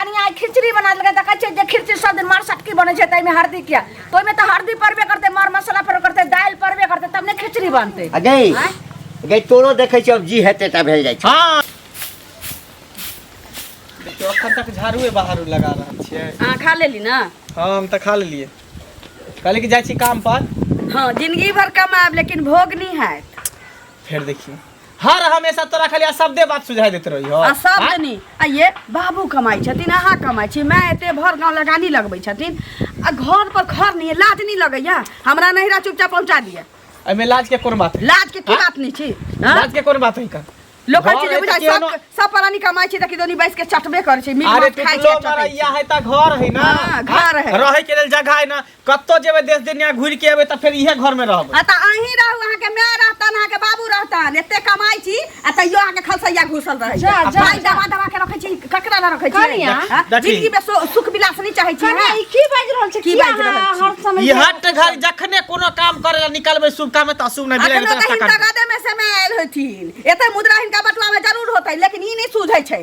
कनिया आइ खिचड़ी बना देलकै देखै छियै जे खिचड़ी सब दिन मार सटकी बनै छै ताहिमे हरदी किया तऽ ओहिमे तऽ हरदी पड़बे करतै मर मसाला पड़बे करतै दालि पड़बे करतै तब ने खिचड़ी बनतै आ गई आँय? गई तोरो देखै छियै अब जी हेतै ता भेल जाइ छै हाँ देखियो अखन तक झाड़ूए बाहर लगा रहल छियै अहाँ खा लेली ने हाँ हम तऽ खा लेलियै कहलियै कि जाइ छी काम पर हँ जिंदगी भर कमाएब लेकिन भोग नहि हैत फेर देखिए हर हमेशा तोरा खाली अशब्दे बात सुझाई देते रही हो आ सब दनी आ ये बाबू कमाई छथिन अहाँ कमाई छी मैं एते भर गाँव लगानी लगबै छथिन आ घर पर खर नहीं है, लाज नहीं लगैया हमरा नहिरा चुपचाप पहुँचा दिया एमे लाज के कोन बात है लाज के की हाँ? बात नहीं छी हाँ? लाज के कोन बात है का लोक घर चीज है बुझाइ तऽ सब केहनो- सब परानी कमाई छी देखि दोनी बैस के चटबे करै छी मीट अरे मांस खाइ छी टुटलो आ चटै छी। मरैया है ता घर है ना हाँ, घर है। रहे के लेल जगह है ना कत्तो जेबै देश दुनिया घुरि के एबै तऽ फेर इहे घर में रहबै आ तऽ अहीं रहू अहाँके माय रहतन अहाँके बाबू रहतन एते कमाइ छी आ तैयो अहाँके खलसैया घुसल रहै जा, जा, भाई जा। दबा दबा के रखै छी ककरा लए रखै छी कनिया, हाँ? देखी। जिंदगी में सु- सुख विलास नहि चाहै छी कनिया, हाँ? ई की बाजि रहल छै की की बाजि रहल अहाँ छी? हर समय ई हट घर जखने कोनो काम करे ला निकलबै शुभ काम तऽ अशुभ नहि बिलाइ अखनो तऽ तऽ हिनका गदे में से मे आयल होथिन एते मुद्रा हिनका बटुआ में जरूर होतै लेकिन ई नहि सूझै छै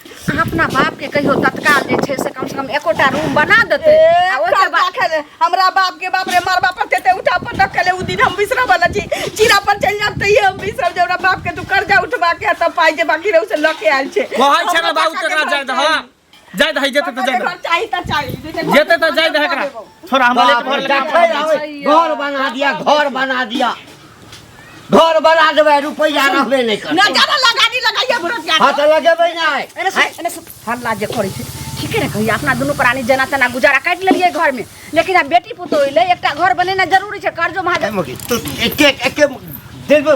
अहाँ अपना बाप के कहियो तत्काल जे छै से कम से कम एकोटा रूम बना देतै आ ओहिके बाद खेले हमरा बाप के बाप रे मरबा पर तेते उठा पर तक खेले उ दिन हम बिसरा वाला छी जीरा पर चल जाब त ये हम बिसरा जे हमरा बाप के तू कर्जा उठवा के त पाई जे बाकी रहू से ल के आयल छे कहै छै ने बाबू तकरा जाय दह जाय दह जेते त जाय दह चाही त चाही जेते त जाय दह एकरा छोरा हमरा लेट भर लगा घर बना दिया घर बना दिया घर बना देबै रुपैआ रहबे नहि करतै ना ज्यादा लगा दी लगाइए भरत यार हाँ तऽ लगेबै नहि एने से एने से हल्ला जे करै छै ठीके ने कहिया अपना दुनू प्राणी जेना तेना गुजारा काटि लेलियै घर में लेकिन आब बेटी पुतोह अयलै एकटा घर बनेनाइ जरूरी छै कर्जो महाजन तू एके एके दिलमे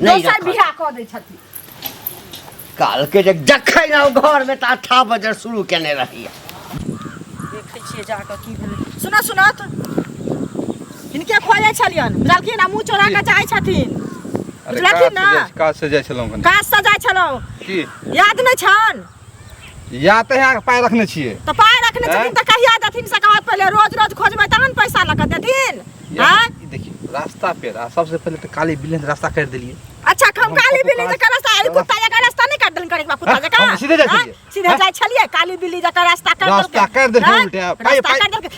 नहि दोसर रखत। बियाह कऽ दै छथिन काल के जे जखै ना ओ घर में ता था बजर शुरू केने रही देखै छियै जा कऽ की भेलै सुनत सुनत हिनके खोजै छलियनि बुझलखिन आ मुँह चोरा कऽ जाइ छथिन अरे बुझलखिन काज से ने? जाइ- काज से जाइ छलहुँ कनि काज से जाइ छलहुँ की याद नहि छनि या तऽ यहाँ पाइ रखने छियै तऽ पाइ रखने छथिन आँय? तऽ कहिया देथिन से कहत पहिले रोज रोज खोजबै तहन पैसा लऽ कऽ देथिन या- आँय? ई देखियौ रास्ता पे रहा सबसे पहले तो काली बिलेन रास्ता कर दिलिए अच्छा हम हम काली कतहु बिल्ली काज- जकर रास्ता अरे कुत्ता जकर रास्ता नहीं काट देलकै एकबा कुत्ता हाँ, जकर हम सीधे जाइ हाँ, छलियै। सीधे हाँ? जाइ छलियै काली बिल्ली जकर रास्ता काट रास्ता काट देलकै हाँ, उल्टा। पाइ- रास्ता पाइ- काट देलकै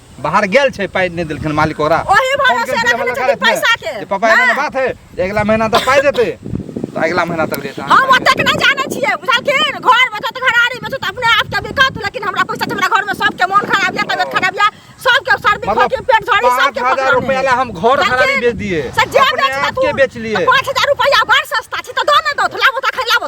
बाहर गेल छै पाइ नहि देलखिन मालिक ओकरा ओही फोन भरोसे केलखिन, हमरा रखने लगा छथिन रखने। पैसा के। जे पापा एना नहि। बात है जे अगिला महीना तक पाइ देतै तऽ अगिला महीना तक देतै हम ओतेक नहि जानै छियै बुझलखिन घर में छत घरारी में छत अपने आप के दिक्कत लेकिन हमरा पैसा छै, हमरा घर में सबके मन खराब या तबियत खराब या सबके सर्दी मतलब खोखी पेट झड़ी पाँच सबके हजार परेशानी रुपया है। ला हम घर देखिन, घरारी बेच दिए से जे अपने बेच आप के बेच लिए पाँच हजार रुपया घर सस्ता छै तऽ दऽ ने दो लाबो तऽ खैलाबो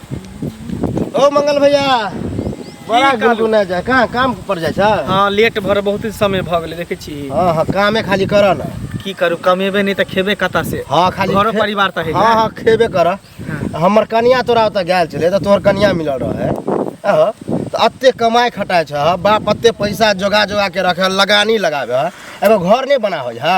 ओ मंगल भैया बड़ा की कहलू? गुनगुना जा कहाँ काम पर जाइ छ हाँ लेट भर बहुत समय भऽ गेलै देखै छी हाँ हाँ कामे खाली कर न की करू कमेबे नहि तऽ खेबे कतऽ से हाँ खाली घरो खे- परिवार तऽ है हाँ हाँ खेबे कर हमर कनिया तोरा ओतऽ गेल छलै तऽ तोहर कनिया मिलल रहे अहो, तऽ अते कमाइ खटाइ छ बाप अते पैसा जोगा जोगा के रखे लगानी लगाबे एगो घर नहि बना होइ है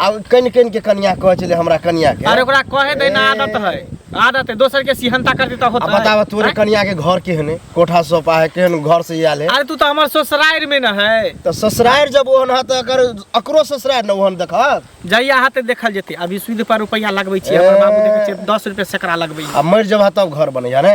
आ कनि कनि के कनिया कहै छलै हमरा कनिया के अरे ओकरा कहे दे ना ए। आदत है आदत है दोसर के सिहनता करते त आ होता बताबऽ है तोरे कनिया के घर केहन है कोठा सोफा है केहन घर से आयल है अरे तू तो हमार ससुराल में न है तो ससुरार जब ओहन है तो अगर अकरो ससुरार न ओहन देखत जहिया हाथे देखल जेते अभी सूद पर रुपया लगबै छी हमर बाबू देखै छै 10 रुपया सैकड़ा लगबै आ मरि जब है तब घर बनै है ने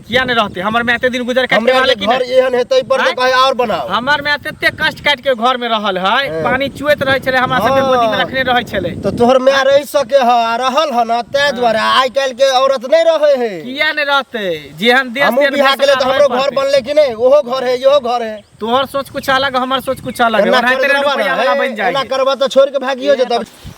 किया नहीं रहते हमर में एते दिन गुजर काट के हमरा रहले के कि घर नहीं? एहन हेतै पर आँय? कहे और बनाओ हमर में एते कष्ट काट के घर में रहल है हाँ। पानी चुएत रहे छले हमरा सबके हाँ। गोदी में रखने रहे छले तो तोहर माय रह सके ह आ रहल ह ना तै द्वारे आइ काल्हि के औरत नहीं रहे है किया नहीं रहते जेहन देश हमहूँ तेहन बिहा गेले तो फैसला हमरो होए घर पड़ते। बनले कि नहीं ओहो घर है इहो घर है तोहर सोच कुछ अलग हमर सोच कुछ अलग है एना ओनाहिते करबा ना, रुपया वाला बन एना जाएगी करबा तो छोड़ के भागियो जेतब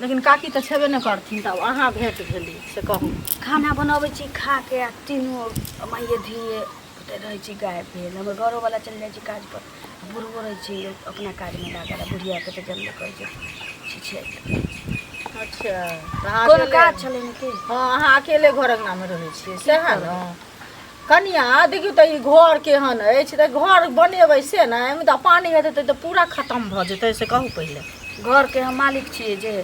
लेकिन काकी तऽ छेबे नहि करथिन तऽ अहाँ भेट भेली से कहू खाना बनबै छी खा के आ तीनू माइए धिये पुते रहै छी गायब भेल हमर घरोवला चलि जाइ छी काज पर आ बुढ़बो रहै छी लोक अपना काजमे लागल आ बुढ़ियाके तऽ जल्दी कहै छै छिछिया अच्छा तऽ अहाँ कोनो अकेले- काज छलै ने कि हँ अहाँ अकेले घर अङ्गनामे रहै छियै सएह ने कनिया देखियौ तऽ ई घर केहन अछि तऽ घर बनेबै से ने एहिमे तऽ पानि हेतै तऽ पूरा खतम भऽ जेतै से कहू पहिले घरके हम मालिक छियै जे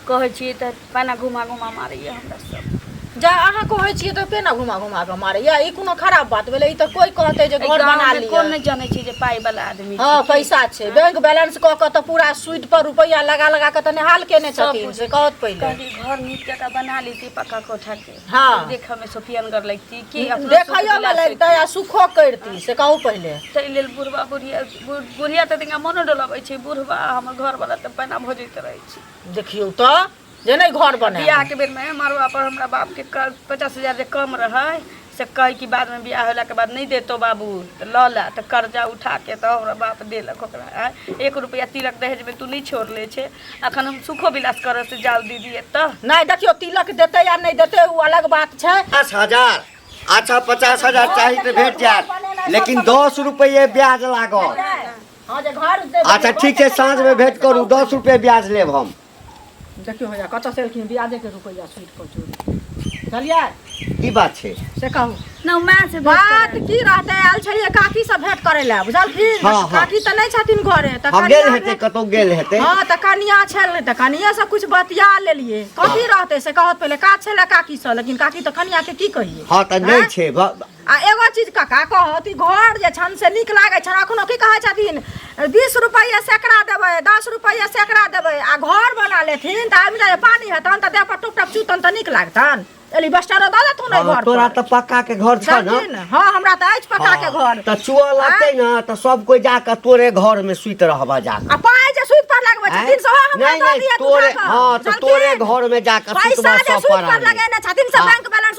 कहै छियै तऽ पहिने घुमा घुमा मारैया हमरा सब जा अहाँ कहै छियै तऽ केना घुमा घुमा कऽ मारैया ई कोनो खराब बात भेलै ई तऽ कोइ कहतै जे घर बना लिअ कोन नहि जानै छै जे पाइ वाला आदमी हँ पैसा छै बैंक बैलेंस कऽ कऽ तऽ पूरा सूद पर रुपैआ लगा लगा कऽ तऽ निहाल केने छथिन से कहत पहिले घर नीक जकाँ बना ली पक्का कोठा के हाँ देखऽ में सोफियनगर लगती कि अपनो देखैयो सुख में बिलास लगतै आ सुखो करती से कहू पहिले होइती। ताहि लेल बुढ़बा बुढ़िया बु- बुढ़िया तऽ तिनका मोनो डोलाबै छै बुढ़बा आ हमर घरवला तऽ पैना भोजैत रहै छै देखियौ तऽ जे नहि घर बने बियाह के बेर में मरवा पर हमरा बाप के क- पचास हजार जे कम रहै से कहै कि बाद में बियाह होला के बाद नहीं देतो बाबू तऽ लऽ ला तऽ कर्जा उठा के तऽ हमरा बाप देलक ओकरा आँय। एक रुपया तिलक दहेज में तू नहीं छोड़ले छे अखन हम सुखो विलास करऽ से जाउ दीदी एतऽ नहीं देखियो तिलक देते या नहीं देते वो अलग बात छै पचास हजार अच्छा पचास हजार चाही तऽ भेट जायत लेकिन दस रुपये ब्याज लागत हां जे घर दे अच्छा ठीक छै साँझमे भेट करू दस रुपये ब्याज लेब हम देखियो होया कत से एलखिन ब्याजे के रुपया छूट चलिए की बात छै से कहू ना माय से बात बात की रहते आयल छलिए काकी से भेंट करे ला बुझलखिन हाँ, हाँ। काकी तऽ नहि छथिन घरे तऽ हम गेल कनिया हेतै भेंट- कतौ गेल हेतै हाँ तऽ कनिया छल तऽ कनिये से कुछ बतिया लेलिए कथी रहते से कहत पहिले काज छले काकी से लेकिन काकी तऽ कनिया के की कहिए हाँ तऽ नहि छै भ- आ एगो चीज काका कहत ई घर जे छनि से नीक लागै छनि अखनो की कहै छथिन बीस रुपैआ सैकड़ा देबै दस रुपैआ सैकड़ा देबै आ घर बना लेथिन तऽ आबि जाए पानि हेतनि तऽ देहपर टुप टप चुतनि तऽ नीक लागतनि एली बस्टरो दऽ देथुन एहि हाँ, घर तोरा पर तऽ पक्का के घर छ न समझी ने? हँ हमरा तऽ अछि पक्का के घर तऽ चुआ लगतै न तऽ सब कोइ जाके तोरे घर में सुति रहबा जाके आ पाइ जे सूद पर लगबै आँय? छथिन सेहो हमरा नहीं, दऽ नहीं, दिअ तोरे- दूटा कऽ। हाँ, तऽ जानकी? तोरे घर में जाके पैसा सुतबा जे सब सूद पर परानी। लगेने छथिन से हाँ। बैंक बैलेंस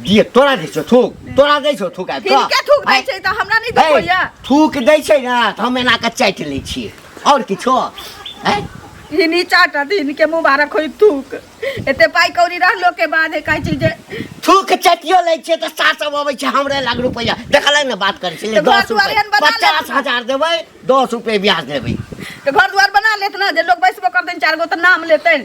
दिए तोरा दै छौ थूक तोरा दै छौ थूक आबि हिनके थूक दै छै तऽ हमरा नहि दै होइए थूक दै छै ने तऽ हम एना कऽ चाटि लै छियै आओर किछो आँय हिनी चाटा दिन के मुबारक होई थूक एते पाई कौड़ी रहलो के बाद है काई चीज थूक चटियो ले छे त सात सौ अबै छे हमरे लाख रुपया देखल ने बात करे छे 10 रुपया 50000 देबै 10 रुपया ब्याज देबै तो घर द्वार बना लेत ना जे लोग बैसबो कर देन चार गो त नाम लेतन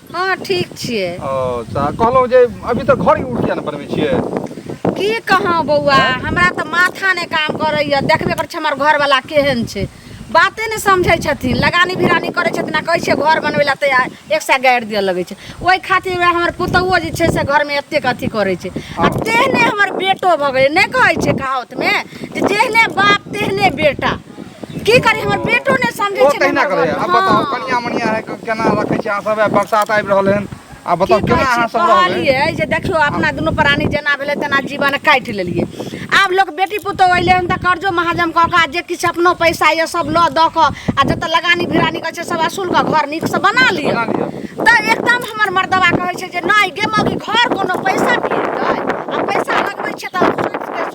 हँ ठीक छियै अच्छा कहलहुँ जे अभी तक घर उर किया नहि बनबै छियै की कहौ बौआ आँय हमरा तऽ माथा नहि काम करैया देखबे करै छै हमर घरवला केहन छै बाते नहि समझै छथिन लगानी भिरानी करै छथिन आ कहै छै घर बनबै लए तैयार एक सए गारि दिअ लगै छै ओहि खातिर वएह हमर पुतौहुओ जे छै से घरमे एतेक अथी करै छै आ तेहने हमर बेटो भऽ गेलै नहि कहै छै कहाउतमे जे जेहने बाप तेहने बेटा की करी हमर बेटो नहि समझै छै तहिना करैया आब बताउ कनिया मनिया है केना रखै छै अहाँ सब बरसात आबि रहल हन आ बताउ केना अहाँ सब कहलियै जे देखियो अपना दुनू प्राणी जेना भेलै तेना जीवन काटि लेलियै आब लोक बेटी पुतहु अइलै हन तऽ कर्जो महाजम कऽ कऽ जे किछु अपनो पैसा यऽ सब लऽ दऽ कऽ आ जतऽ लगानी भिरानी करै छै सब असूल कऽ घर नीकसँ बना लिअ तऽ एकदम हमर मर्दबा कहै छै जे नहि गे मौगी घर कोनो पैसा दिएतै आ पैसा लगबै छै तऽ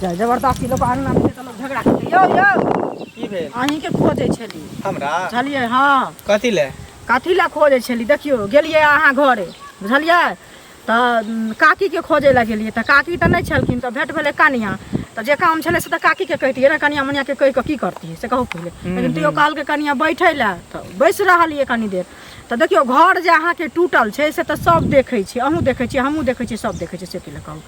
जा जबरदस्ती लोक अंगना में तऽ लोक झगड़ा करते यौ यौ की भेल अहीं के खोजै छली हमरा बुझलियै हाँ कथी ले कथी लए खोजै छली देखियौ गेलियै अहाँ घरे बुझलियै तऽ उम, काकीके खोजै लए गेलियै तऽ काकी तऽ नहि छलखिन तऽ भेट भेलै कनिया तऽ जे काम छलै से तऽ काकीके कहितियै ने कनिया मनियाके कहि कऽ की करतियै से कहू पहिले लेकिन तैयो कहलकै कनिया बैठै लए तऽ बैस रहलियै कनी देर तऽ देखियौ घर जे अहाँके टूटल छै से तऽ सभ देखै छै अहूँ देखै छियै हमहूँ देखै छियै सभ देखै छै से की लऽ कहू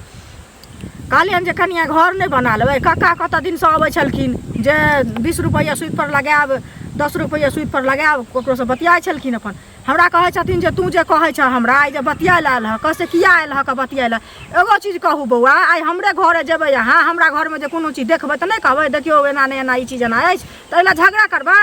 कहलियनि जे कनिया घर नहि बना लेबै कक्का कतऽ दिनसँ अबै छलखिन जे बीस रुपैआ सुइपर लगायब दस रुपैआ सुइपर लगायब ककरोसँ बतियाइ छलखिन अपन हमरा कहै छथिन जे तू जे कहै छह हमरा आइ जे बतियाइ लए आयल हँ कहै से किया आयल हँ बतियाइ लए एगो चीज कहू बौआ आइ हमरे घरे जेबै अहाँ हमरा घरमे जे कोनो चीज देखबै तऽ नहि कहबै देखियौ एना नहि एना ई चीज एना अछि तऽ एहि लए झगड़ा करबै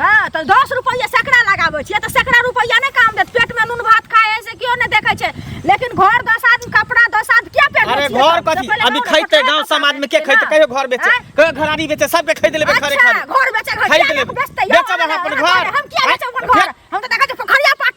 हाँ तो दस रुपये सैकड़ा लगाबे छे तो सैकड़ा रुपया नहीं काम देत पेट में नून भात खाए से क्यों नहीं देखे छे लेकिन घर दस आदमी कपड़ा दस आदमी क्या पेट अरे घर कथी अभी खैते गांव समाज में के खैते कहियो घर बेचे कहियो घरानी बेचे सब के खरीद लेबे घरे अच्छा, घर बेचे घर खरीद लेबे बेचब अपन घर हम क्या बेचब अपन घर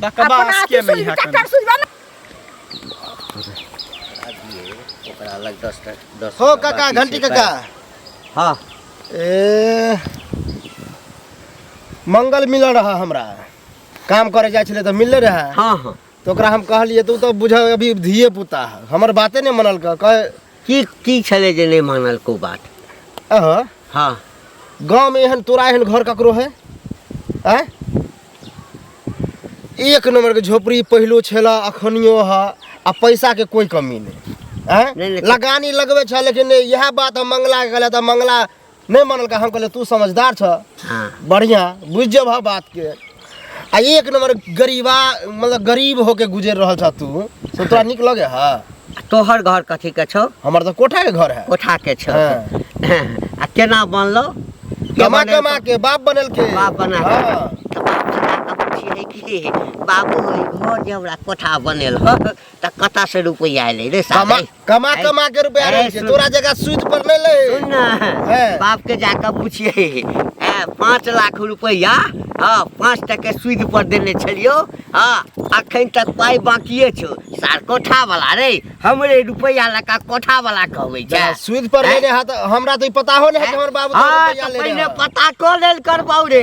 बकवास के नहीं है चक्कर सुझबा ना ओकरा अलग 10 10 हो काका घंटी काका हां ए मंगल मिल रहा हमरा काम करे जाय छले त मिलले रहा हां हां तो ओकरा हम कहलिए तू तो बुझ अभी धिए पुता है हमर बाते नहीं मनल कह की की छलै जे नहि मानल को बात अहाँ हँ गाँवमे एहन तोरा एहन घर ककरो है आँय एक नंबरके झोपड़ी पहिलो छेला अखनियो है आ पैसाके कोइ कमी नहि आँय नहि, नहि। लगानी लगबै छह लेकिन नहि इएह बात हम मंगलाके कहले तऽ मंगला नहीं मानल का हम कहले तू समझदार छ हाँ बढ़िया बुझ जब हा बात के आ एक नंबर गरीबा मतलब गरीब होके गुजर रहल छ तू तो तोरा निक लगे हा तोहर घर कथी के छौ हमर तो कोठा के घर है कोठा के छौ हाँ। आ केना बनलो के कमा बनेलको? कमा के बाप बनल के बाप बना के। हाँ। तऽ बाप बना कऽ पुछियै कि बाबू ई घर जे हमरा कोठा बनेल हँ तऽ कतऽसँ रुपैआ एलै रे कमा साले कमा ऐ- कमा के रुपया ऐ रहै छै सुन। तोरा जगह सूद पर नहि लै सुन ना हैं। बाप के जाकर पूछिए हैं, पाँच लाख रुपया हाँ पाँच टके सूद पर देने छलियो हाँ अखन तक पाई बाकिए छो सार कोठा वाला रे हमरे रुपया लका कोठा वाला कहबे छै जगह सूद पर हैं? लेने हाथ हमरा तो ई पता हो नहि है कि हमर बाबू तोरा हाँ रुपया तऽ लेने पहिने है। पता कऽ लेल करबाउ रे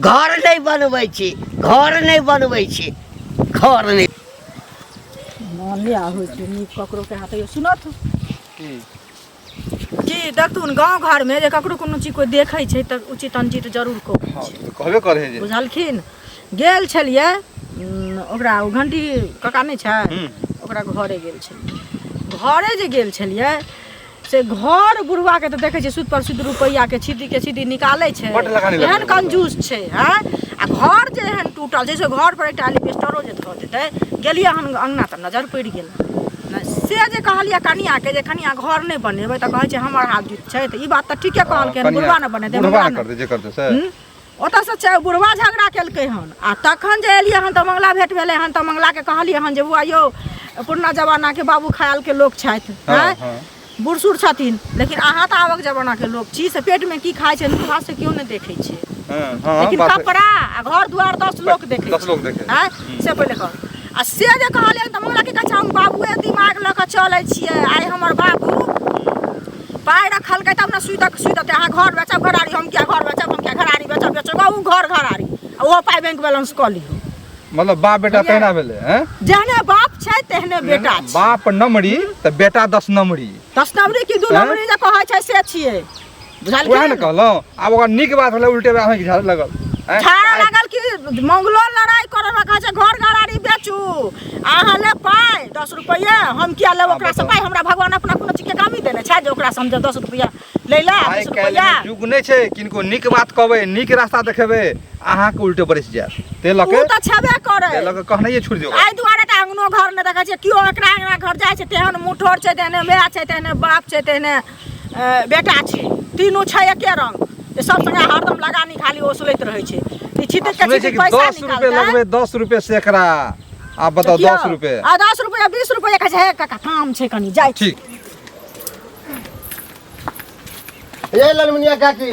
घर नहीं बनबै छी घर नहीं बनबै छी घर नहीं माने आ होइ छै नीक ककरो के हाथ यो सुनत की की देखथुन गांव घर में जे ककरो कोनो चीज कोई देखै छै त उचित अनुचित जरूर को हाँ तो कहबे करे है जे बुझलखिन गेल छलियै उम, ओकरा ओ घंटी कका नहि छै हम्म। ओकरा घरे गेल छलियै घरे जे गेल छलियै से घर बुढ़वा के तऽ देखै छै सुद पर सुद रुपैआ के छीटी के छीटी निकालै छै बड्ड लगानी लगबै एहन छै। कंजूस छै हैं आ घर जे एहन टूटल छै से घर पर एकटा एलिबेस्टरो जे धऽ देतै गेलियै हन अंगना तऽ नजर पड़ि गेल नहि, से जे कहलियै कनिया के जे कनिया घर नहि बनेबै तऽ कहै छै हमर हाथ जुत छै तऽ ई बात तऽ ठीके कहलकै हन, बुढ़वा ने बनेतै बुढ़वा मुढ़वा ने ने करतै जे करतै से हूँ? ओतऽसँ छै बुढ़वा झगड़ा केलकै हन आ तखन जे एलियै हन तऽ मंगला भेट भेलै हन तऽ मंगलाके कहलियै हन जे बौआ यौ पुरना जमानाके बाबू खयालके लोक छथि हँ, आँय? हँ। बूढ़ सूढ़ छथिन लेकिन अहाँ तऽ आबक जमानाके लोक छी से पेटमे की खाइ छै मुँह से केओ नहि देखै छै हँ, हँ, लेकिन बात है। कपड़ा आ घर दुआर दस लोक देखै दस लोक देखै। आँय? से पहिले कह आ से जे कहलियै तऽ मंगला की कहै छै हम बाबुए दिमाग लऽ कऽ चलै छियै आइ हमर बाबू पाइ रखलकै तब ने सुतक सुत देतै अहाँ घर बेचब घराड़ी हम किया घर बेचब हम किया घराड़ी बेचब बेचब ओ घर घराड़ी आ ओहो पाइ बैंक बैलेंस कऽ लियौ मतलब बाप बेटा तहिना भेलै हैं जहने बाप छै तेहने बेटा छै बाप नमरी तऽ बेटा दस नमरी दस नंबरी की दू हैं? नंबरी जे कहै छै से छियै बुझल उएह ने कहलहुँ अब ओकर निक बात होला उल्टे बात होई झाड़ लगल हैं? झाड़ा लागल कि मंगलो लड़ाई करे रखा छै घर गरारी बेचू अहाँ ले पाइ दस रुपैया हम किया लेब ओकरा से पाइ हमरा भगवान अपना कोनो चीज के कामी देने छै जे ओकरा से हम जे दस रुपैया लै ला आइ बीस काल्हि रुपैया मे युग नहि छै किनको नीक बात कहबै नीक रास्ता देखेबै अहाँके उल्टे बरसि जायत ते लऽ ओ के तऽ छेबे करै ते लऽ के कहनाइए छुटि दियौ एहि दुआरे तऽ अङ्गनो घर नहि देखै छियै केओ एकरा अङ्गना घर जाइ छै तेहन मुठोर छै तेहने माय छै तेहने बाप छै तेहने बेटा छै तीनू छै एके रंग तऽ सब संगे हरदम लगा निकाली ओसलैत रहै छै ई छिते के सुनै छै छिते कि पैसा दस रुपए निकालतै लगबै दस रुपए सैकड़ा आ बताउ किया? दस रुपए आ दस रुपया बीस रुपया कहै छै हे काका काम छै कनी जाइ छी ठीक ये ललमुनिया काकी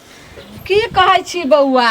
की कहै छी बौआ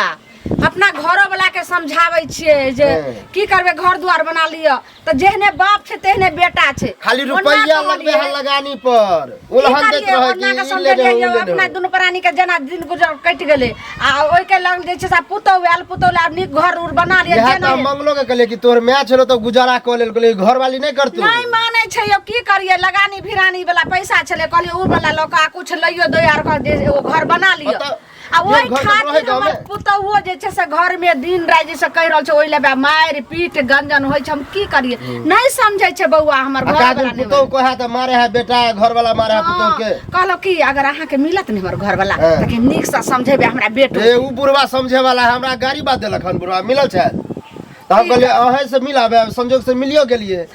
अपना घरो वाला के समझाबै छियै जे हँ। की करबै घर दुआर बना लिअ तऽ जेहने बाप छै तेहने बेटा छै खाली ओना रुपैया कहलियै, लगबे है लगानी पर की उलहन दैत करियै, रहे ओना के कि ई समझे लेने हो, रहियै, उ लेने अपना हो। दुनू प्राणी के जेना दिन गुजर कटि गेलै आ ओहि के लग जे छै से पुतौह आयल पुतौह आयल नीक घर उर बना लिअ इएह तऽ जेना हम मंगलो के कहलियै कि तोहर मैच छलो तऽ गुजारा कऽ लेल कहलियै घर वाली नहि करतू नहि मानै छै यौ की करियै लगानी भिरानी वाला पैसा छलै कहलियै उ वाला लऽ कऽ आ कुछ लइयो दो यार का जे एगो घर बना लियो अतः आ ओहि एक घर खातिर रहे गाँव हमर में। पुतौओ जे छै से घर में दिन राति जैसे कहि रहल छै ओहि लेबे मारि पीट गंजन होइ छै हम की करिए नहि समझै छै बौआ हमर आ घर का दिन वाला पुतोह को है तो मारे है बेटा है घर वाला मारे है पुतोह के कहलो कि अगर अहाँ के मिलत ने हमर घर वाला हाँ। तखन नीक से समझेबे हमरा बेटो ए उ बुढ़वा समझे वाला है हमरा गाड़ी बात देलक हन बुढ़वा मिलल छै तो हम कहलिए अहे से मिलाबे संजोग से मिलियो गेलिए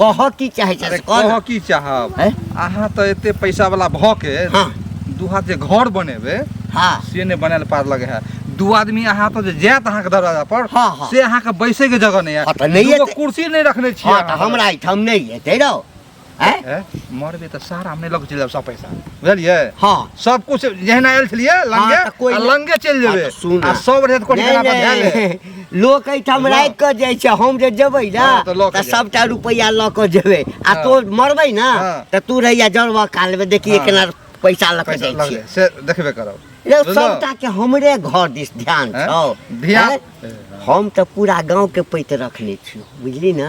कह की चाहे अरे चाहे कह कह की चाहब हैं? अहाँ तऽ एते पैसा वाला भऽ के हाँ। दू हाथ जे घर बनेबे हाँ से नहि बनायल पार लगे है दू आदमी अहाँ पर जे जायत अहाँके दरवाजा पर हाँ, हाँ। से अहाँके बैसे के जगह नहीं हाँ, तऽ है नहि दूगो एतै। कुर्सी नहि रखने छियै हाँ तऽ अहाँ। हमरा एहिठाम नहि हेतै रौ हैं? ए, मरबे तऽ सारा हम नहि लऽ के चलि जायब सब पैसा बुझलियै हाँ सब कुछ जहिना आयल छलियै लंगे तऽ कोइ आ नहि- लंगे चलि हाँ, जेबै तऽ सुन आ ना। सब रेत कोटी नहीं, केना पर धए नहीं। लेब। लोक एहिठाम राखि कऽ जाइ छै हम जे जेबै ने हँ, तऽ लऽ कऽ तऽ जायब। सभटा रुपैआ लऽ कऽ जेबै आ हँ। तोर मरबै ने हँ। तऽ तू रहिया जड़बऽ कालमे देखिए हँ। केना पैसा लऽ कऽ पैसा जाइ लग छियै से देखबे करब रे, बुझलहुँ? सभटा के हमरे घर दिस ध्यान हैं? छौ ध्यान- हैं? हम तऽ पूरा गाँवके पैत रखने छियौ बुझली ने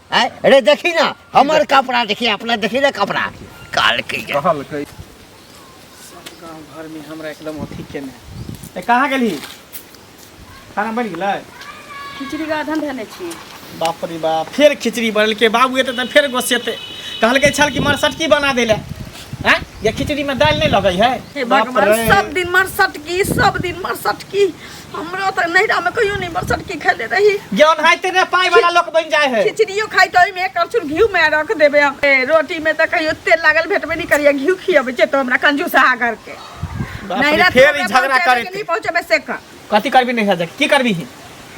आय अरे देखी ना हमर कपड़ा देखी अपना देखी ना कपड़ा काल के ये। कहल कई गाँव घर में हमरा एकदम अथी केने ए कहाँ गेली खाना बनि गेलै खिचड़ी का अधन धने छी बाप रे बाप फेर खिचड़ी बनल के बाबू एते तऽ फेर गोसेते कहलकै छल कि मरसटकी बना देले हैं ये खिचड़ी में दालि नहीं लगै है हे बाप भगवान रे। सब दिन मरसटकी सब दिन मरसटकी हमरो तऽ नैहरा में कहियो नहीं बरसर की खेले रही ज्ञान है तेरे पाई वाला लोग बन जाए है खिचड़ियो खाई तो में एक चूर घी में रख देबे हम ए, रोटी में तो कहियो तेल लागल भेटबे नहीं करिए घी खियबे जे तो हमरा कंजूसा घर के बाप रे, नैहरा फेर ई झगड़ा करे नहीं पहुंचे में से कर कथी करबी नहीं है की करबी ही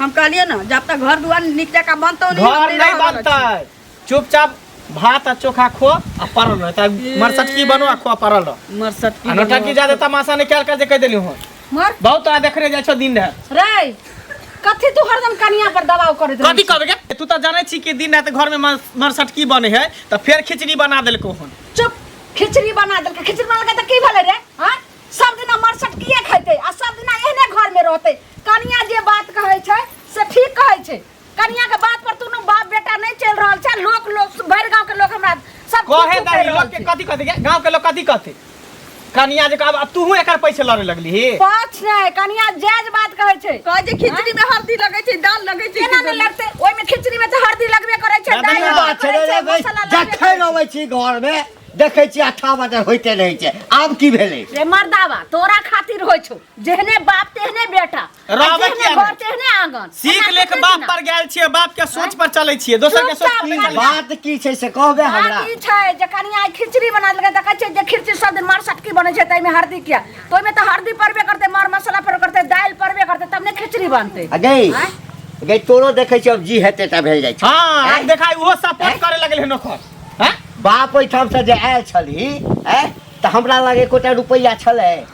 हम कहलिए ना जब तक घर दुआर निकले का बनतो नहीं घर हमरे नहीं रहल बनता है चुपचाप भात आ चोखा खो आ पड़ल रह तब मरसटकी बनो आ खो आ पड़ल रह मरसटकी आ नौटंकी जादे तमाशा नहीं कल कर जे कह देली हो मर बहुत तोरा देखने जाइ छो दिन रह रे कथी तू हरदम कनिया पर दबाव करत कथी कहबे के तू तो जाने छी कि दिन रात घर में मर- मरसटकी बने है तो फिर खिचड़ी बना देलको हन चुप खिचड़ी बना देलकै खिचड़ी बना देलकै तऽ की भेलै रे हाँ सब दिना मरसटकिए खैतै आ सब दिना एहने घरमे रहतै कनिया जे बात कहै छै से ठीक कहै छै कनिया के बात पर तू न बाप बेटा नहीं चल रहल छै लोक लोक भर गांव के लोक हमरा सब कहे दा लोग के कथि कहते गांव के लोग कथि कहते कनिया जे अब तू एकर पैसे लड़े लगली ही पाछ नहीं कनिया जायज बात कहे छै कह जे खिचड़ी में हल्दी लगे छै दाल लगे छै केना नहीं लगते ओय में खिचड़ी में त हल्दी लगबे करे छै दाल बात छै रे भाई जखै रहै छी घर में देखै छी अठा बजे होइते रहै छै आब की भेलै रे मर्दावा तोरा खातिर होइ छौ जेहने बाप तेहने बेटा रहबै जेहने किया घर नहि? तेहने आंगन सीख एना लेख कते बाप दिना? पर गेल छियै बाप के सोच पर चलै छियै दोसर के सोच चुपचाप पर रहल। बात की छै से कहबे हमरा बात ई छै जे कनिया आइ खिचड़ी बना देलकै देखै छै जे खिचड़ी सब दिन मार सटकी बनै छै ताहिमे हरदी किया तऽ ओहिमे तऽ हरदी पड़बे करतै मार मसाला पड़बे करतै दालि पड़बे करतै तब ने खिचड़ी बनतै आ गई आँय? गई तोरो देखै छियै अब जी हेतै ता भेल जाइ छै हाँ आब देखाइ ओहो सपोर्ट करे लगल है नोकर हाँ? बाप ओहिठाम से जे आयल छली हैं, तऽ हमरा लग एकोटा रुपैआ छलै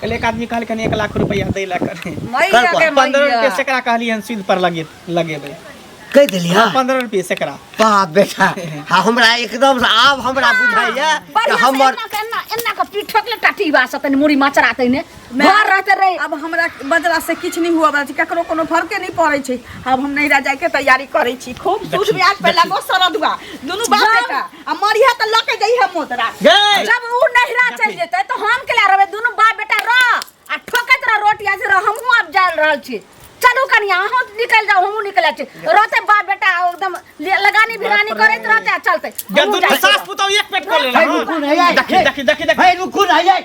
कल एक आदमी कहलखिन एक लाख रुपया दै लए कर कर पर पंद्रह रुपये सेकड़ा कहलियन सूद पर लगे लगेबै कहि देलियै पंद्रह रुपये सेकड़ा बाप बेटा आ हमरा एकदम से आब हमरा बुझाइया कि हमर एना के पीठ ठोकले टाटी बा से तनी मुड़ी मचरा तने घर रहते रहे अब हमरा बजला से किछु नहि हुआ बला छै ककरो कोनो फरके नहि पड़ै छै अब हम नैहरा जायके तैयारी करै छी खूब सूद ब्याज पे लगो सरद बा दुनू बाप बेटा आ मरिया त लके जई है मोदरा गए। जब ऊ नहिरा चल जेते तो हम के ला रहबे दोनों बाप बेटा रह आ ठोकत रह रोटी आज रह हमहू अब जाल रहल छी चलू कनिया अहूँ निकल जाओ हमहू निकल छी रहते बाप बेटा एकदम ले- लगानी भिरानी करत रहते आ चलते जब हमहूँ दुनू जाइ छी। सास पुतौ एक पेट को लेला है रुकू नहीं आई देखी देखी देखी देखी है रुकू नहीं आई